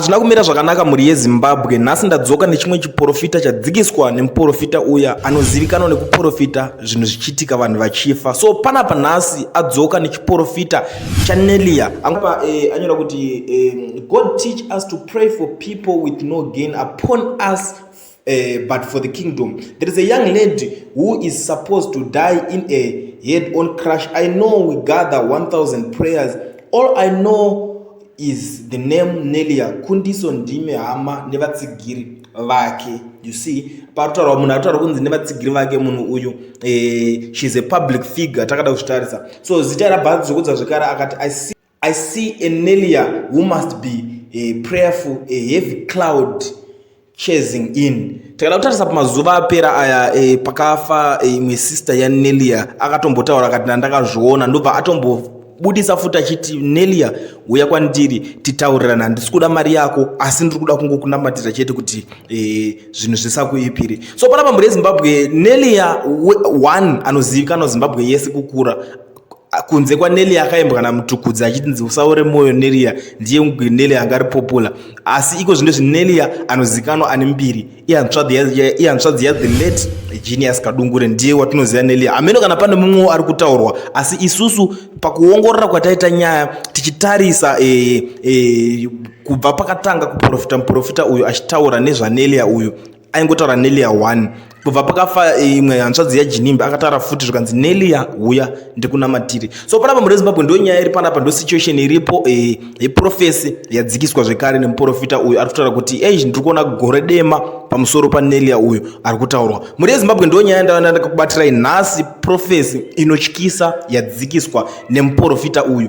Hazvina kumira zvakanaka mhuri yeZimbabwe. Nhasi ndadzoka nechimwe chiporofita chadzikiswa nemuporofita uya anozivikanwa nekuporofita zvinhu zvichiitika vanhu vachifa. So panapa nhasi adzoka nechiporofita chaNelia. Apa eh, anyora kuti eh, God teach us to pray for people with no gain upon us Uh, but for the kingdom there is a young lady who is supposed to die in a head on crash i know we gather 1000 prayers all i know is the name nelia kundiso ndime hama nevatsigiri vake you see patotaura munhu atotaura kunzi nevatsigiri vake munhu uyu eh, shes a public figure takada kuzvitarisa so zita rabhazi zvokudza zvekare akati i see I see a Nelia who must be a prayerful, a heavy cloud chasing in. Takada kutarisa pamazuva apera aya e, pakafa eh, imwe e, sister ya Nelia akatombotaura akati ndandakazviona ndobva atombobudisa futi achiti Nelia uya kwandiri titaurirana handisi kuda mari yako asi ndiri kuda kungokunamatira chete kuti e, zvinhu zvisakuipiri so panapa mhuri yezimbabwe Nelia one anozivikanwa zimbabwe yese kukura Ah, kunze kwaneli akaimbwa namutukudzi achitinzi usaore mwoyo nelia ndiye mugwi neli anga ari popula asi iko zvino zvinelia anozikanwa ane mbiri ihanzvadzi yathe late genius kadungure ndiye watinoziva nelia hameno kana pane mumwewo ari kutaurwa asi isusu pakuongorora kwataita nyaya tichitarisa e, e, kubva pakatanga kuprofita muprofita uyu achitaura nezvanelia uyu aingotaura nelia one kubva pakafa eh, imwe hanzvadzi yajinimbi akataura futi zvikanzi nelia huya ndikunamatiri so panapa muri zimbabwe ndo nyaya iri panapa ndo situation iripo eh, yeprofesi yadzikiswa zvekare nemuprofita uyu ari kutaura kuti ei ndiri kuona gore dema pamusoro panelia uyu ari kutaurwa muri yezimbabwe ndo nyaya ndavana ndakakubatirai nhasi profesi inotyisa yadzikiswa nemuprofita uyu